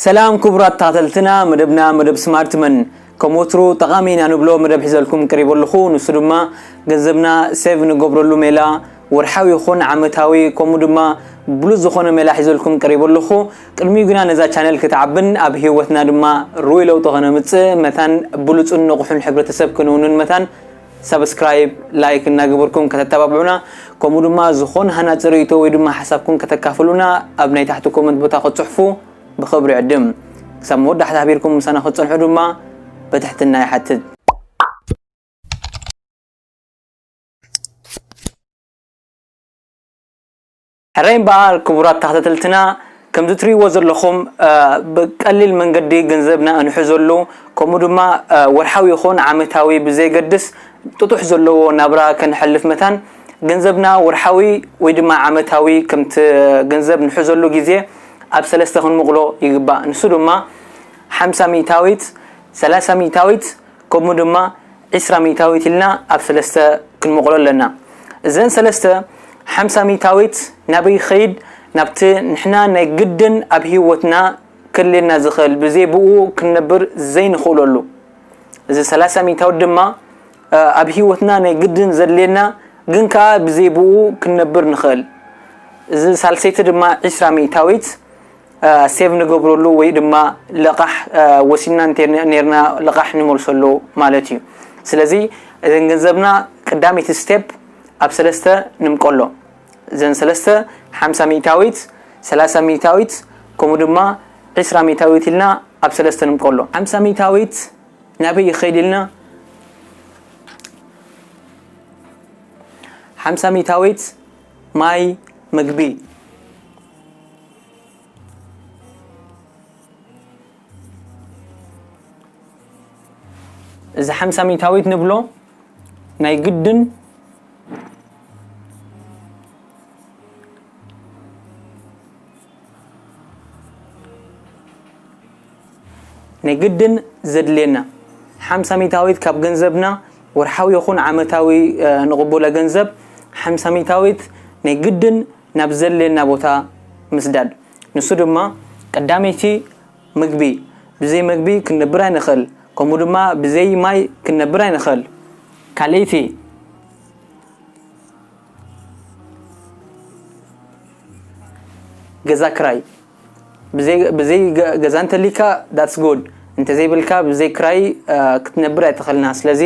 ሰላም ክቡራት ተኸተልትና መደብና መደብ ስማርት መን ከም ወትሩ ጠቓሚ ኢና ንብሎ መደብ ሒዘልኩም ቀሪቡ ኣለኹ ንሱ ድማ ገንዘብና ሴቭ ንገብረሉ ሜላ ወርሓዊ ይኹን ዓመታዊ ከምኡ ድማ ብሉጽ ዝኾነ ሜላ ሒዘልኩም ቀሪቡ ኣለኹ ቅድሚኡ ግና ነዛ ቻነል ክትዓብን ኣብ ህይወትና ድማ ርኡይ ለውጢ ከነምጽእ መታን ብሉጽን ንቑሕን ሕብረተሰብ ክንውንን መታን ሳብስክራይብ ላይክ እናገበርኩም ከተተባብዑና ከምኡ ድማ ዝኾነ ሃናጺ ርእይቶ ወይ ድማ ሓሳብኩም ከተካፍሉና ኣብ ናይ ታሕቲ ኮመንት ቦታ ክትጽሕፉ ብኽብሪ ዕድም ክሳብ መወዳሕታ ኣሕቢርኩም ምሳና ክትጸንሑ ድማ በትሕትና ይሓትት ሕራይ በዓል ክቡራት ተኸታተልትና ከምዚ ትሪእዎ ዘለኹም ብቀሊል መንገዲ ገንዘብና እንሕዘሉ ከምኡ ድማ ወርሓዊ ይኹን ዓመታዊ ብዘይገድስ ጥጡሕ ዘለዎ ናብራ ከነሕልፍ መታን ገንዘብና ወርሓዊ ወይ ድማ ዓመታዊ ከምቲ ገንዘብ ንሕዘሉ ግዜ ኣብ ሰለስተ ክንምቕሎ ይግባእ ንሱ ድማ ሓምሳ ሚእታዊት ሰላሳ ሚእታዊት ከምኡ ድማ ዕስራ ሚእታዊት ኢልና ኣብ ሰለስተ ክንመቕሎ ኣለና። እዘን ሰለስተ ሓምሳ ሚእታዊት ናበይ ይኸይድ? ናብቲ ንሕና ናይ ግድን ኣብ ህይወትና ከድልየና ዝኽእል ብዘይ ብእኡ ክንነብር ዘይንኽእለሉ። እዚ ሰላሳ ሚእታዊት ድማ ኣብ ህይወትና ናይ ግድን ዘድልየና ግን ከኣ ብዘይ ብእኡ ክንነብር ንኽእል። እዚ ሳልሰይቲ ድማ ዕስራ ሚእታዊት ሴቭ ንገብረሉ ወይ ድማ ለቓሕ ወሲድና እንተ ኔርና ለቓሕ ንመልሰሉ ማለት እዩ። ስለዚ እዘን ገንዘብና ቀዳመይቲ ስቴፕ ኣብ ሰለስተ ንምቀሎ። እዘን ሰለስተ ሓምሳ ሚእታዊት፣ ሰላሳ ሚእታዊት ከምኡ ድማ ዕስራ ሚእታዊት ኢልና ኣብ ሰለስተ ንምቀሎ። ሓምሳ ሚእታዊት ናበይ ይኸይድ ኢልና ሓምሳ ሚእታዊት ማይ፣ ምግቢ እዚ ሓምሳ ሚታዊት ንብሎ ናይ ግድን ናይ ግድን ዘድልየና ሓምሳ ሚታዊት ካብ ገንዘብና ወርሓዊ ይኹን ዓመታዊ ንቕቡለ ገንዘብ ሓምሳ ሚታዊት ናይ ግድን ናብ ዘድልየና ቦታ ምስዳድ። ንሱ ድማ ቀዳመይቲ ምግቢ፣ ብዘይ መግቢ ክንነብር ኣይንኽእል፣ ከምኡ ድማ ብዘይ ማይ ክንነብር ኣይንኽእል። ካልኣይቲ ገዛ ክራይ፣ ብዘይ ብዘይ ገዛ እንተሊካ ዳትስ ጉድ፣ እንተዘይብልካ ብዘይ ክራይ ክትነብር ኣይትኽእልና። ስለዚ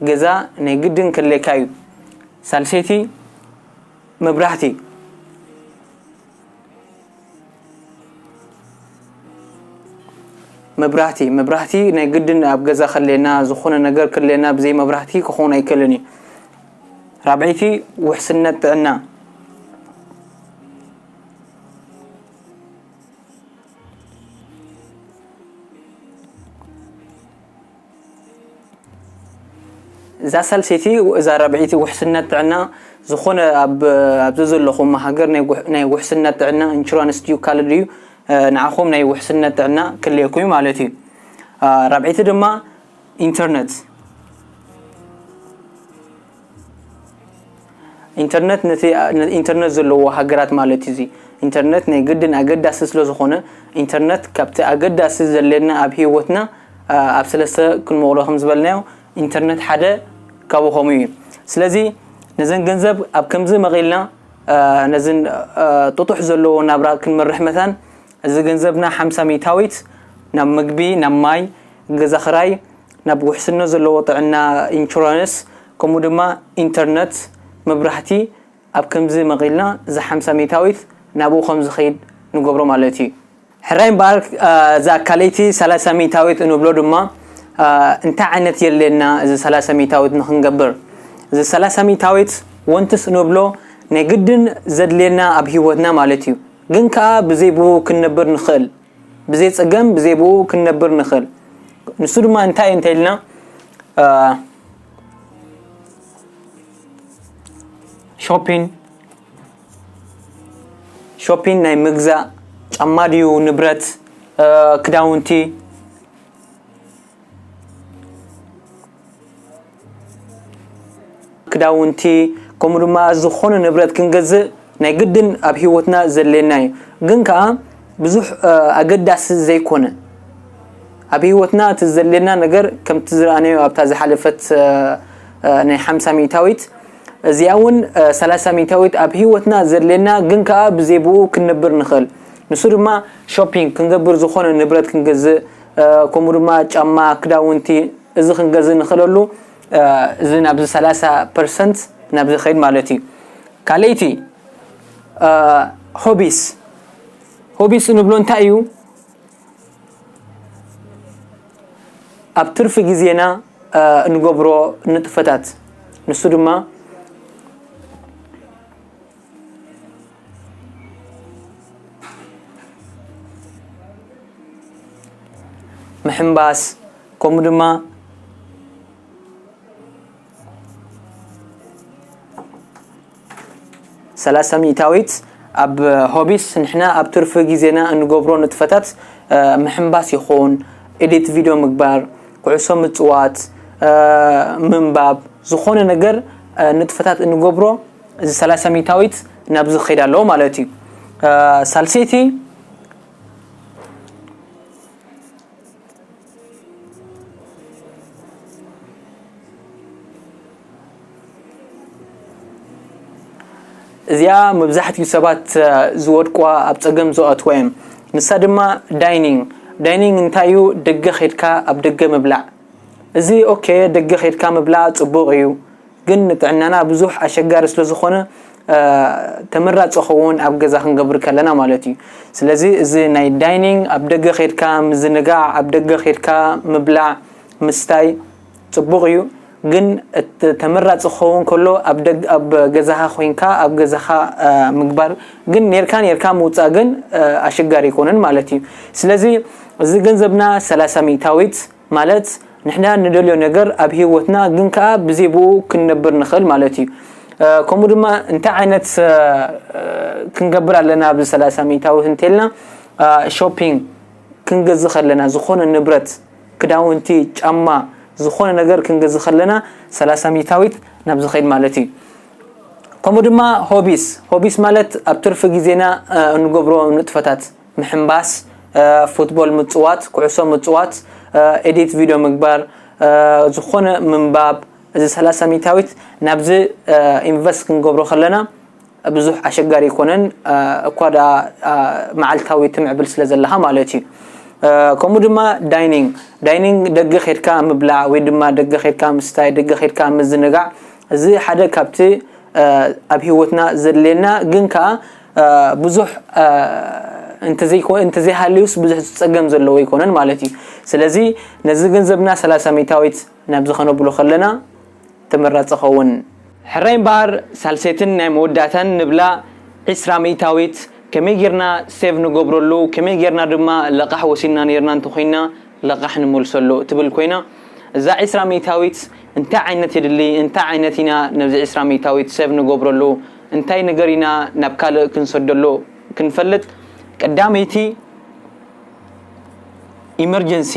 ገዛ ናይ ግድን ከድልየካ እዩ። ሳልሰይቲ መብራህቲ መብራህቲ መብራህቲ ናይ ግድን ኣብ ገዛ ከለና ዝኾነ ነገር ከለና ብዘይ መብራህቲ ክኾን ኣይክእልን እዩ ራብዐይቲ ውሕስነት ጥዕና እዛ ሳልሰይቲ እዛ ራብዐይቲ ውሕስነት ጥዕና ዝኾነ ኣብ ኣብዚ ዘለኹም ሃገር ናይ ውሕስነት ጥዕና ኢንሹራንስ ድዩ ካልእ ድዩ ንዓኹም ናይ ውሕስነት ጥዕና ክልየኩም እዩ ማለት እዩ ራብዐይቲ ድማ ኢንተርነት ኢንተርነት ነቲ ኢንተርነት ዘለዎ ሃገራት ማለት እዩ እዚ ኢንተርነት ናይ ግድን ኣገዳሲ ስለ ዝኾነ ኢንተርነት ካብቲ ኣገዳሲ ዘለና ኣብ ሂወትና ኣብ ሰለስተ ክንመቕሎ ከም ዝበልናዮ ኢንተርነት ሓደ ካብኡ ከምኡ እዩ ስለዚ ነዘን ገንዘብ ኣብ ከምዚ መቒልና ነዝን ጥጡሕ ዘለዎ ናብራ ክንመርሕ መታን እዚ ገንዘብና ሓምሳ ሚእታዊት ናብ ምግቢ ናብ ማይ ገዛ ክራይ ናብ ውሕስነት ዘለዎ ጥዕና ኢንሹራንስ ከምኡ ድማ ኢንተርነት፣ መብራህቲ ኣብ ከምዚ መቒልና እዛ ሓምሳ ሚእታዊት ናብኡ ከም ዝኸይድ ንገብሮ ማለት እዩ። ሕራይ እምበኣር እዛ ካልኣይቲ ሰላሳ ሚእታዊት እንብሎ ድማ እንታይ ዓይነት የድልየና እዚ ሰላሳ ሚእታዊት ንኽንገብር? እዚ ሰላሳ ሚእታዊት ወንትስ እንብሎ ናይ ግድን ዘድልየና ኣብ ህይወትና ማለት እዩ። ግን ከኣ ብዘይ ብኡ ክንነብር ንኽእል። ብዘይ ጸገም ብዘይ ብኡ ክንነብር ንኽእል ንሱ ድማ እንታይ እንተ ኢልና ሾፒን ሾፒን ናይ ምግዛእ ጫማ ድዩ ንብረት ክዳውንቲ ክዳውንቲ ከምኡ ድማ ዝኾነ ንብረት ክንገዝእ ናይ ግድን ኣብ ሂወትና ዘድልየና እዩ ግን ከዓ ብዙሕ ኣገዳሲ ዘይኮነ ኣብ ሂወትና እቲ ዘድልየና ነገር ከምቲ ዝረኣናዮ ኣብታ ዝሓለፈት ናይ ሓምሳ ሚእታዊት እዚኣ እውን ሰላሳ ሚእታዊት ኣብ ሂወትና ዘድልየና ግን ከዓ ብዘይ ብኡ ክንነብር ንኽእል ንሱ ድማ ሾፒንግ ክንገብር ዝኾነ ንብረት ክንገዝእ ከምኡ ድማ ጫማ ክዳውንቲ እዚ ክንገዝ ንክለሉ እዚ ናብዚ ሰላሳ ፐርሰንት ናብ ዝኸይድ ማለት እዩ ካልእይቲ ሆቢስ ሆቢስ እንብሎ እንታይ እዩ ኣብ ትርፊ ግዜና እንገብሮ ንጥፈታት ንሱ ድማ ምሕንባስ ከምኡ ድማ ሰላሳ ሚእታዊት ኣብ ሆቢስ ንሕና ኣብ ትርፊ ግዜና እንገብሮ ንጥፈታት እ፣ ምሕንባስ ይኹን ኤዲት ቪድዮ ምግባር ኩዕሶ ምፅዋት እ፣ ምንባብ ዝኾነ ነገር እ፣ ንጥፈታት እንገብሮ እዚ ሰላሳ ሚታዊት ናብዚ ክኸይድ ኣለዎ ማለት እዩ። ሳልሰይቲ እዚኣ መብዛሕትኡ ሰባት ዝወድቋ ኣብ ፀገም ዝኣትዋ እዮም። ንሳ ድማ ዳይኒንግ ዳይኒንግ እንታይ እዩ? ደገ ኸድካ ኣብ ደገ ምብላዕ እዚ ኦኬ ደገ ኸድካ ምብላዕ ፅቡቕ እዩ። ግን ንጥዕናና ብዙሕ ኣሸጋሪ ስለ ዝኾነ ተመራጺ ኸውን ኣብ ገዛ ክንገብር ከለና ማለት እዩ ስለዚ እዚ ናይ ዳይኒንግ ኣብ ደገ ኼድካ ምዝንጋዕ ኣብ ደገ ኼድካ ምብላዕ ምስታይ ጽቡቕ እዩ ግን ተመራጺ ክኸውን ከሎ ኣብ ደግ ኣብ ገዛኻ ኮይንካ ኣብ ገዛኻ ምግባር ግን ኔርካ ኔርካ ምውጻእ ግን ኣሸጋሪ ይኮንን ማለት እዩ ስለዚ እዚ ገንዘብና 30 ሚእታዊት ማለት ንሕና ንደልዮ ነገር ኣብ ሂወትና ግን ከኣ ብዘይ ብኡ ክንነብር ንኽእል ማለት እዩ። ከምኡ ድማ እንታይ ዓይነት ክንገብር ኣለና ኣብዚ ሰላሳ ሚእታዊ እንተልና ሾፒንግ ክንገዝእ ከለና ዝኾነ ንብረት ክዳውንቲ ጫማ ዝኾነ ነገር ክንገዝእ ከለና ሰላሳ ሚእታዊት ናብ ዝኸይድ ማለት እዩ። ከምኡ ድማ ሆቢስ ሆቢስ ማለት ኣብ ትርፊ ግዜና እንገብሮ ንጥፈታት ምሕንባስ፣ ፉትቦል ምጽዋት፣ ኩዕሶ ምጽዋት፣ ኤዲት ቪድዮ ምግባር፣ ዝኾነ ምንባብ፣ እዚ ሰላሳ ሚእታዊት ናብዚ ኢንቨስት ክንገብሮ ከለና ብዙሕ ኣሸጋሪ ኣይኮነን፣ እኳ ደኣ መዓልታዊ ትምዕብል ስለ ዘለኻ ማለት እዩ። ከምኡ ድማ ዳይኒንግ፣ ዳይኒንግ ደገ ኬድካ ምብላዕ ወይ ድማ ደገ ኬድካ ምስታይ፣ ደገ ኬድካ ምዝንጋዕ፣ እዚ ሓደ ካብቲ ኣብ ህይወትና ዘድልየና ግን ከኣ ብዙሕ እንተዘይሃልዩስ ብዙሕ ዝፀገም ዘለዎ ኣይኮነን ማለት እዩ ስለዚ ነዚ ገንዘብና ሰላሳ ሚታዊት ናብዚ ከነብሎ ከለና ተመራፂ ኸውን ሕራይ እምበኣር ሳልሰይትን ናይ መወዳእታን ንብላ ዕስራ ሚእታዊት ከመይ ጌርና ሴቭ ንገብረሉ ከመይ ጌርና ድማ ለቓሕ ወሲድና ኔርና እንተኾይንና ለቓሕ ንመልሰሉ እትብል ኮይና እዛ ዕስራ ሚእታዊት እንታይ ዓይነት የድሊ እንታይ ዓይነት ኢና ነዚ ዕስራ ሚእታዊት ሴቭ ንገብረሉ እንታይ ነገር ኢና ናብ ካልእ ክንሰደሎ ክንፈልጥ ቀዳመይቲ ኢመርጀንሲ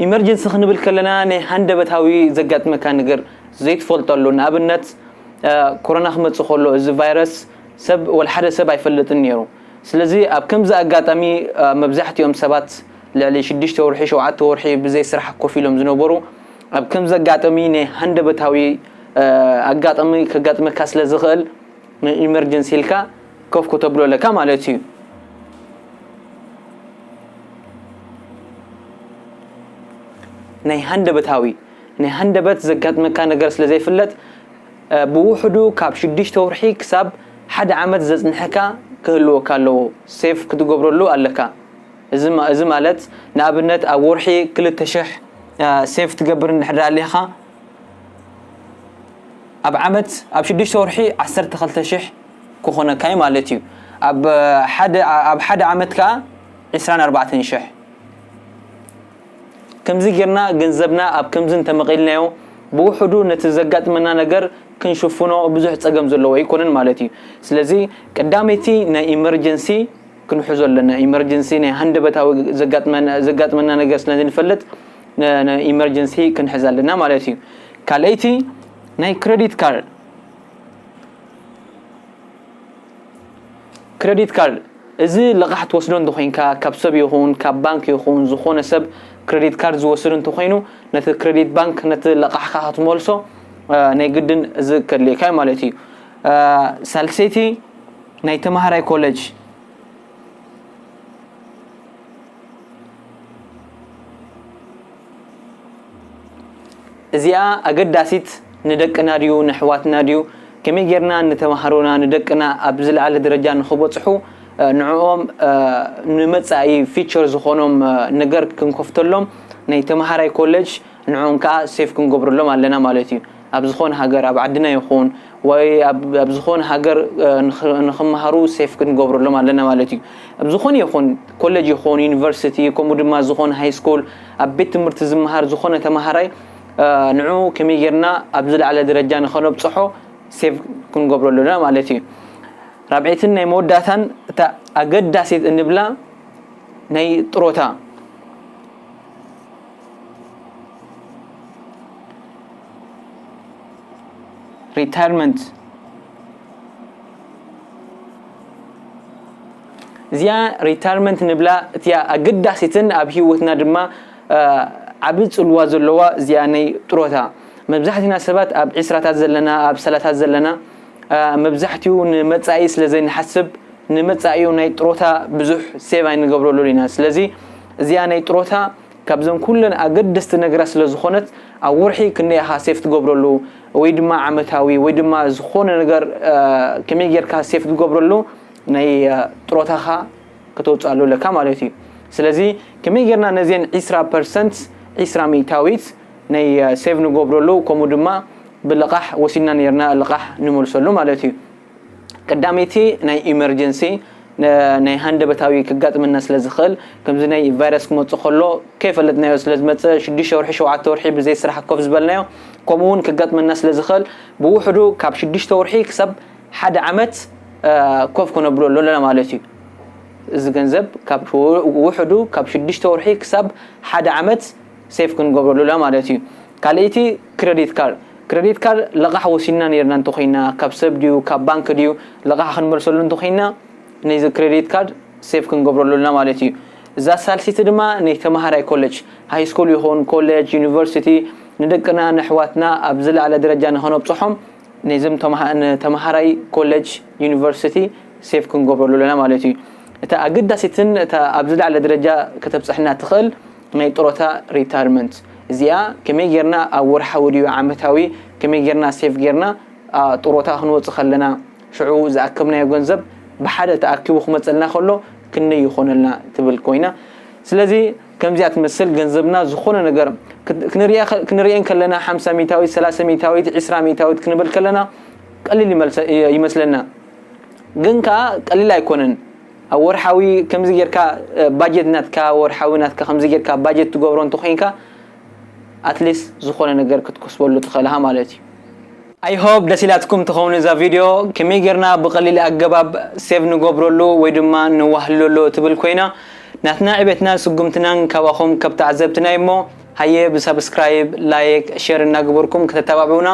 ኢመርጀንሲ ክንብል ከለና ናይ ሃንደበታዊ ዘጋጥመካ ነገር ዘይትፈልጠሉ ንኣብነት ኮሮና ክመፅእ ከሎ እዚ ቫይረስ ሰብ ወላ ሓደ ሰብ ኣይፈልጥን ነይሩ ስለዚ ኣብ ከምዚ ኣጋጣሚ መብዛሕትኦም ሰባት ልዕሊ ሽዱሽተ ወርሒ፣ ሸውዓተ ወርሒ ብዘይ ስራሕ ኮፍ ኢሎም ዝነበሩ፣ ኣብ ከምዚ ኣጋጠሚ ናይ ሃንደበታዊ ኣጋጠሚ ከጋጥመካ ስለ ዝኽእል ን ኢመርጀንሲ ኢልካ ኮፍ ክተብሎ ኣለካ ማለት እዩ። ናይ ሃንደበታዊ ናይ ሃንደበት ዘጋጥመካ ነገር ስለ ዘይፍለጥ ብውሕዱ ካብ ሽዱሽተ ወርሒ ክሳብ ሓደ ዓመት ዘጽንሐካ ክህልወካ ኣለዎ፣ ሴቭ ክትገብረሉ ኣለካ። እዚ ማለት ንኣብነት ኣብ ወርሒ ክልተ ሽሕ ሴቭ ትገብር እንድሕር ኣሊኻ ኣብ ዓመት ኣብ ሽዱሽተ ወርሒ ዓሰርተ ክልተ ሽሕ ክኾነካ እዩ ማለት እዩ ኣብ ሓደ ዓመት ከዓ ዕስራን ኣርባዕተን ሽሕ ከምዚ ጌርና ገንዘብና ኣብ ከምዚ እንተመቒልናዮ ብውሕዱ ነቲ ዘጋጥመና ነገር ክንሽፍኖ ብዙሕ ጸገም ዘለዎ ኣይኮነን ማለት እዩ ስለዚ ቀዳመይቲ ናይ ኢመርጀንሲ ክንሕዞ ኣለና ኢመርጅንሲ ናይ ሃንደበታዊ ዘጋጥመና ዘጋጥመና ነገር ስለ ንፈልጥ ኢመርጀንሲ ክንሕዝ ኣለና ማለት እዩ ካልኣይቲ ናይ ክሬዲት ካርድ ክሬዲት ካርድ እዚ ልቓሕ ትወስዶ እንተኮይንካ ካብ ሰብ ይኹን ካብ ባንክ ይኹን ዝኾነ ሰብ ክሬዲት ካርድ ዝወስድ እንተኮይኑ ነቲ ክሬዲት ባንክ ነቲ ልቓሕካ ክትመልሶ ናይ ግድን እዚ ከድልየካ ማለት እዩ ሳልሰይቲ ናይ ተማሃራይ ኮለጅ እዚኣ ኣገዳሲት ንደቅና ድዩ ንሕዋትና ድዩ ከመይ ጌርና ንተማሃሮና ንደቅና ኣብ ዝለዓለ ደረጃ ንክበፅሑ ንዕኦም ንመፃኢ ፊቸር ዝኾኖም ነገር ክንከፍተሎም ናይ ተምሃራይ ኮለጅ ንዕኦም ከዓ ሴፍ ክንገብረሎም ኣለና ማለት እዩ ኣብ ዝኾነ ሃገር ኣብ ዓድና ይኹን ወይ ኣብ ዝኾነ ሃገር ንኽመሃሩ ሴፍ ክንገብረሎም ኣለና ማለት እዩ። ኣብ ዝኾነ ይኹን ኮለጅ ይኹን ዩኒቨርሲቲ ከምኡ ድማ ዝኾነ ሃይስኩል ኣብ ቤት ትምህርቲ ዝመሃር ዝኾነ ተመሃራይ ንዑ ከመይ ጌርና ኣብ ዝለዓለ ደረጃ ንኸነብጽሖ ሴቭ ክንገብሮ ኣለና ማለት እዩ። ራብዒትን ናይ መወዳእታን እታ ኣገዳሲት እንብላ ናይ ጥሮታ ሪታይርመንት እዚኣ ሪታይርመንት ንብላ እቲኣ ኣገዳሲትን ኣብ ሂወትና ድማ ዓብ ፅልዋ ዘለዋ እዚኣ ናይ ጥሮታ መብዛሕትና ሰባት ኣብ ዕስራታት ዘለና ኣብ ሰላታት ዘለና መብዛሕትኡ ንመፃኢ ስለዘይንሓስብ ንመፃኢኡ ናይ ጥሮታ ብዙሕ ሴቭ ኣይንገብረሉን ኢና ስለዚ እዚኣ ናይ ጥሮታ ካብዘን ኩለን ኣገደስቲ ነገራት ስለ ዝኾነት ኣብ ወርሒ ክንደይ ኢኻ ሴፍ ትገብረሉ ወይ ድማ ዓመታዊ ወይ ድማ ዝኾነ ነገር ከመይ ጌርካ ሴፍ ትገብረሉ ናይ ጥሮታኻ ከተውፅኣሉ ኣለካ ማለት እዩ ስለዚ ከመይ ጌርና ነዚን ዒስራ ፐርሰንት ዒስራ ሚእታዊት ናይ ሴቭ ንገብረሉ ከምኡ ድማ ብልቓሕ ወሲድና ኔርና ልቓሕ ንመልሰሉ ማለት እዩ ቀዳመይቲ ናይ ኢመርጀንሲ ናይ ሃንደበታዊ ክጋጥመና ስለ ዝኽእል ከምዚ ናይ ቫይረስ ክመጽእ ከሎ ከይፈለጥናዮ ስለ ዝመጽእ ሽዱሽተ ወርሒ ሸውዓተ ወርሒ ብዘይ ስራሕ ኮፍ ዝበልናዮ ከምኡ እውን ክጋጥመና ስለ ዝኽእል ብውሕዱ ካብ ሽዱሽተ ወርሒ ክሳብ ሓደ ዓመት ኮፍ ክነብሎ ኣለና ማለት እዩ እዚ ገንዘብ ካብ ውሕዱ ካብ ሽዱሽተ ወርሒ ክሳብ ሓደ ዓመት ሴፍ ክንገብረሉ ኣለና ማለት እዩ ካልእይቲ ክረዲት ካርድ ክረዲት ካርድ ለቓሕ ወሲድና ነይርና እንተኾይና ካብ ሰብ ድዩ ካብ ባንክ ድዩ ለቓሕ ክንመልሰሉ እንተኾይና ነዚ ክረዲት ካርድ ሴቭ ክንገብረሉ ኣሎና ማለት እዩ እዛ ሳልሲቲ ድማ ነይ ተማሃራይ ኮለጅ ሃይስኩል ይኹን ኮለጅ ዩኒቨርሲቲ ንደቅና ነሕዋትና ኣብ ዝለዓለ ደረጃ ንኸነብጽሖም ነዝም ተማሃራይ ኮለጅ ዩኒቨርሲቲ ሴቭ ክንገብረሉ ኣሎና ማለት እዩ እታ ኣገዳሲትን እታ ኣብ ዝለዓለ ደረጃ ከተብጽሕና ትኽእል ናይ ጥሮታ Retirement እዚኣ ከመይ ጌርና ኣብ ወርሓዊ ድዩ ዓመታዊ ከመይ ጌርና Save ጌርና ጥሮታ ክንወጽእ ከለና ሽዑ ዝኣከብናዮ ገንዘብ ብሓደ ተኣኪቡ ክመጸልና ከሎ ክንደይ ይኾነልና ትብል ኮይና ስለዚ ከምዚኣ ትመስል ገንዘብና ዝኾነ ነገር ክንርእየን ከለና ሓምሳ ሚታዊት ሰላሳ ሚታዊት ዒስራ ሚታዊት ክንብል ከለና ቀሊል ይመስለና ግን ከኣ ቀሊል ኣይኮነን ኣብ ወርሓዊ ከምዚ ጌርካ ባጀት ናትካ ወርሓዊ ናትካ ከምዚ ጌርካ ባጀት ትገብሮ እንተኮይንካ ኣትሊስ ዝኮነ ነገር ክትከስበሉ ትክእል እካ ማለት እዩ። I hope ደስ ኢላትኩም ትከውን እዛ ቪድዮ ከመይ ጌርና ብቀሊል ኣገባብ save ንገብረሉ ወይ ድማ ነዋህልለሉ እትብል ኮይና ናትና ዕቤትናን ስጉምትናን ካባኩም ከብ ተዓዘብትና እዩ እሞ ሃየ ብ subscribe like share እናገበርኩም ከተታባብዑና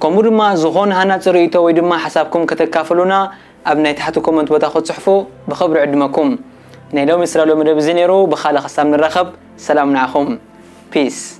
ከምኡ ድማ ዝኮነ ሃናጺ ርእይቶ ወይ ድማ ሓሳብኩም ከተካፍሉና ኣብ ናይ ታሕቲ ኮመንት ቦታ ክትጽሕፉ ብኽብሪ ዕድመኩም። ናይ ሎሚ ስላሎ መደብ እዚ ነይሩ ብኻልእ ክሳብ ንራኸብ ሰላም ንዓኹም። Peace።